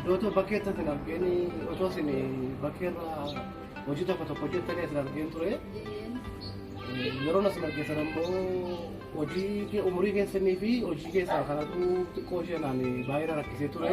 Dootoo bakkee itti argeen otoo isin bakkee irraa hojii tokko tokko hojjettanii isin argeen ture. Yeroo isin argeessan ammoo hojii umurii keessanii fi hojii keessaa kanatu xiqqoo isheenaan baay'ee rakkisee ture.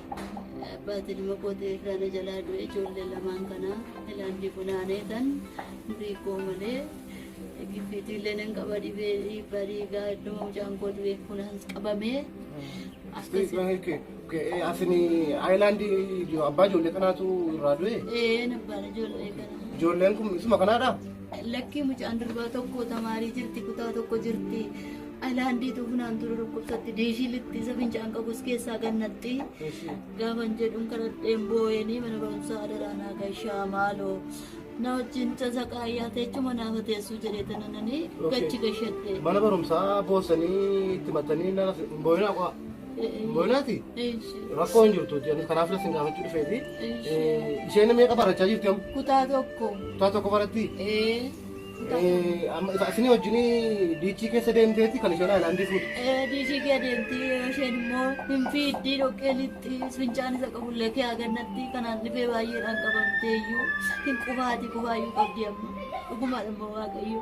Abbaatiin ilma kootii irraa na jalaa du'e ijoollee lamaan kana ilaandii funaanee tan durii koo malee giffiitii illee nan qaba dhibee dhiibbaa dhiigaa iddoo mucaan koo du'e funaans qabamee akkasii. Asini Ayilaandii abbaa ijoollee kanaatu irraa du'e. Ee nabbaan ijoollee kana. Ijoolleen kun isuma kanaadha. Lakkii mucaan durbaa tokko tamaarii jirti kutaa tokko jirti. Ayilaandiitu funaan ture dhukkubsatti diishii litti isa fincaan qabus keessaa gannatti. Gaafan jedhuun kadhadheen boo'eenii mana barumsaa adaraa naa gashaa maaloo. Na wajjin tasa qaayyaa teechuma naafa teessuu jedhee tanananii gachi gashadhe. Mana barumsaa boosanii itti maxxanii hin boo'inaa qo'a. Bonaati rakkoo hin jirtu jedhanii kanaaf isin gaafachuu dhufeeti. Isheen meeqa barachaa jirti amma? Kutaa tokko. Kutaa tokko baratti? Amma isin wajjin diichii keessa deemteetti kan isheen haayilaandii fuutu. Diichii kee deemti yeroo isheen immoo hin fiiddii dhoqqee lixxi fincaan isa qabullee kee agannatti kanaan dhibee baay'eedhaan qabamtee iyyuu hin qubaati qubaayyuu qabdi amma dhugumaadha immoo waaqayyo.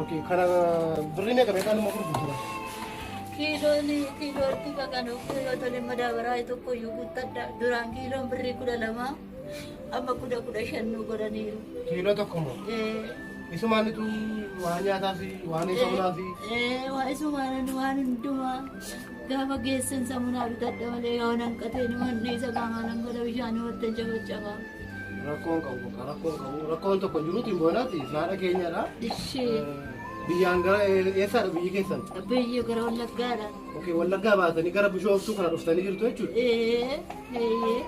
Okay, kana birrii meeqa meeqaan immoo gurgurtudha? Kiiloon kiilootti baqanuu kiiloo tole madaabaraa tokko iyyuu guuttadha. Duraan kiiloon birrii kudha lama amma kudha kudha shan nu godhaniiru. Kiiloo tokko immoo? Isumaan ituu waan nyaataa fi waan eegamuudhaa fi. Waan isumaan waan hundumaa. Gaafa geessan samunaa bitadha malee yoo hanqatee ni manni isa qaamaan hangata bishaan wanta jabacaba. Rakkoon qabu bakka rakkoon qabu rakkoon tokko jiruuti hin boonaati naadha keenyadha. Ishee Biyyaan gara eessaadha biyyi keessan? biyya gara wallaggaadha. Okee wallaggaa baatanii gara bishooftuu kana dhuftanii jirtu jechuudha. Ee eeyyee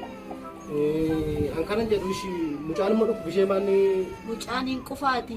Eh, An kanan jedhu ishii mucaan immoo dhufu bishee maanni mucaan hin qufaati.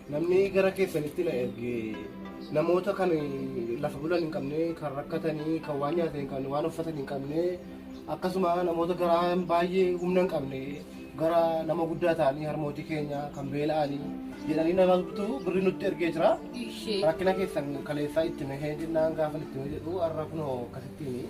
Namni gara keessanitti na erge namoota kan lafa bulan hin qabne, kan rakkatanii, kan waan nyaatan hin qabne, waan uffatan hin qabne, akkasuma namoota garaa baay'ee humna hin qabne, gara nama guddaa ta'anii harmootii keenya kan beela'anii jedhanii nama bitu birri nutti ergee jira. Ishee. Rakkina keessan kaleessaa itti mehee jennaan gaafa itti mehee jedhu har'a kunoo akkasittiin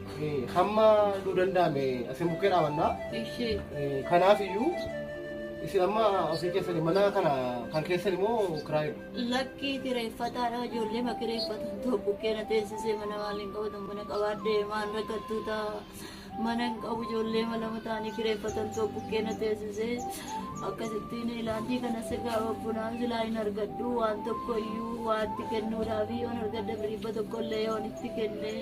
hamma nu danda'ame asiin bukkee dhaabanna. Kanaaf iyyuu isin amma ofii keessanii mana kana kan keessan immoo kiraayu. Lakkii kireeffataadha ijoollee ma kireeffatan ta'u bukkee na teessisee mana maaliin qabatan mana qabaadhee maan rakkattuu ta'a. Mana hin qabu ijoollee ma lama ta'anii kireeffatan ta'u bukkee na teessisee akkasittiin ilaalchii kanas egaa bunaan silaa hin argadhu waan tokko iyyuu waatti kennuudhaaf yoon argadda biribba tokko illee yoon itti kennee.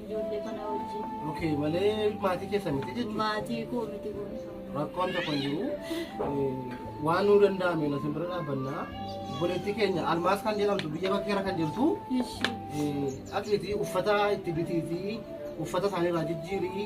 Ijoollee kana wajjin. Okay, malee maatii keessan miti jechuudha. Maatii koo miti kun. Rakkoon tokko hin jiru. Waan nuu danda'ame na simbira dhaabbannaa. Obboleettii keenya almaas kan jedhamtu biyya bakkeera kan jirtu. Ishi. Dhaqiitii uffata itti bitiitii uffata isaaniirraa jijjiirii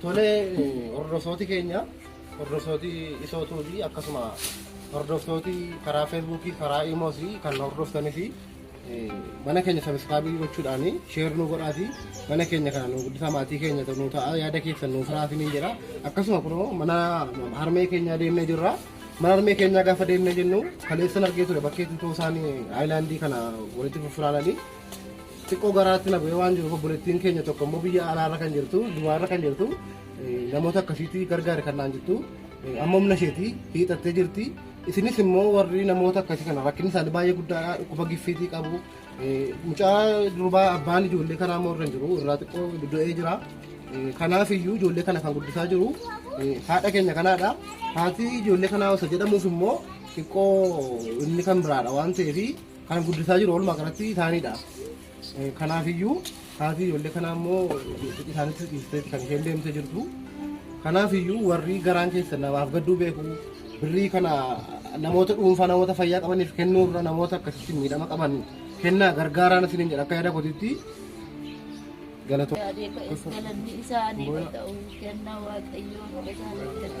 Tole hordoftooti keenya hordoftooti isootuu fi akkasuma hordoftooti karaa feesbuukii karaa iimoos kan hordoftanii fi mana keenya sabiskaabii gochuudhaan sheer nu godhaati mana keenya kana nu guddisaa maatii keenya nu ta'a yaada keessan nuuf raasiniin jedha akkasuma kunoo mana harmee keenyaa deemnee jirra mana harmee keenyaa gaafa deemnee jennu kaleessan argee ture bakkee tutoo isaan aayilaandii kana walitti fufuraananii xiqqoo garaatti na bu'ee waan jiruuf obboleettiin keenya tokko immoo biyya alaarra kan jirtu dubaarra kan jirtu namoota akkasiitti gargaari kan naan jirtu amma humna isheetii hiixattee jirti. Isinis immoo warri namoota akkasii kana rakkinni isaanii baay'ee guddaadha. Dhukkuba giffiitii qabu. Mucaa durbaa abbaan ijoollee kanaa immoo irra hin jiru. Irraa xiqqoo du'ee jira. Kanaaf iyyuu ijoollee kana kan guddisaa jiru haadha keenya kanaadha. Haati ijoollee kanaa osoo jedhamuuf immoo xiqqoo inni kan biraadha waan ta'eef kan guddisaa jiru walumaa galatti isaaniidha. Kanaafiyyuu haati ijoollee kanaa immoo isaanitti dhiistee kan isheen deemtee jirtu. Kanaafiyyuu warri garaan keessan namaaf gadduu beeku birrii kana namoota dhuunfaa namoota fayyaa qabaniif kennuurra namoota akkasitti miidhama qaban kennaa gargaaraan isiniin jedha akka yaada kootiitti galatoo. Galanni isaa ni ta'u kenna waaqayyoo irraa ni argata.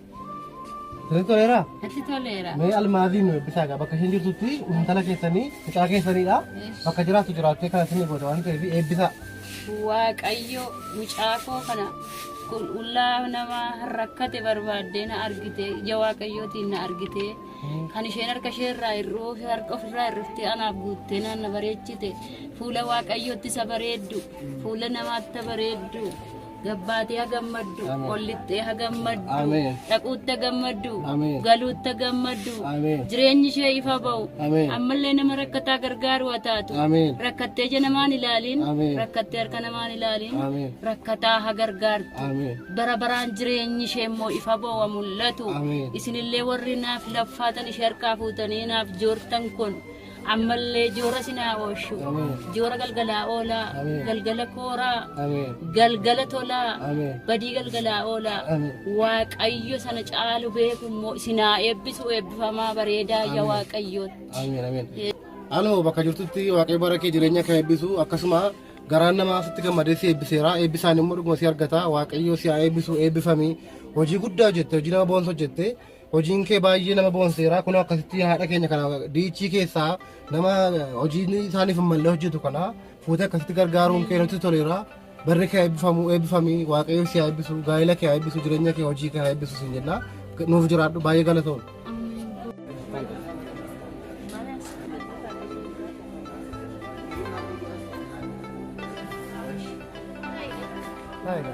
Sirrii toleera? Natti toleera. Mee almaaziin nu eebbisaa egaa bakka isheen jirtutti intala keessanii mucaa keessaniidha. Bakka jiraattu jiraattee kana isin goota waan ta'eef eebbisaa. Waaqayyo mucaa koo kana qulqullaa nama rakkate barbaaddee na argite ija waaqayyootiin na argite kan isheen harka ishee irraa hir'uu fi harka ofirraa hir'iftee anaaf guuttee naan na bareechite fuula waaqayyootti isa bareeddu fuula namaatti bareeddu Gabbaatee ha gammaddu, Ameen. ol lixxee ha gammaddu, Ameen. dhaquutti ha gammaddu, Ameen. galuutti ha gammaddu, Ameen. jireenyi ishee ifa ba'u, Ameen. ammallee nama rakkataa gargaaru ha taatu, Ameen. rakkattee ija namaan ilaaliin, Ameen. rakkattee harka namaan ilaaliin, Ameen. rakkataa ha gargaartu. Ameen. bara baraan jireenyi ishee immoo ifa ba'u ha mul'atu. Ameen. Isinillee warri naaf laffaatan ishee harkaa fuutanii naaf joortan kun ammallee joora sinaa ooshu joora galgalaa oolaa galgala kooraa galgala tolaa badii galgalaa oolaa waaqayyo sana caalu beeku immoo sinaa eebbisu eebbifamaa bareedaa ya waaqayyootti. Anoo bakka jirtutti waaqayyo bara kee jireenya kee eebbisu akkasuma garaan namaa sitti gammadee si eebbiseera eebbisaan immoo dhuguma si argata waaqayyo si haa eebbisu eebbifami hojii guddaa hojjette hojii nama boonsa hojjette Hojiin kee baay'ee nama boonseera. Kunoo akkasitti haadha keenya kana diichii keessaa nama hojiin isaaniif hin malle hojjetu kana fuutee akkasitti gargaaruun kee nutti toleera. Barri kee eebbifamu eebbifami waaqayyo si haa eebbisu gaa'ela kee haa eebbisu jireenya kee hojii kee haa eebbisu siin jenna. Nuuf jiraadhu baay'ee galatoom. Baay'ee.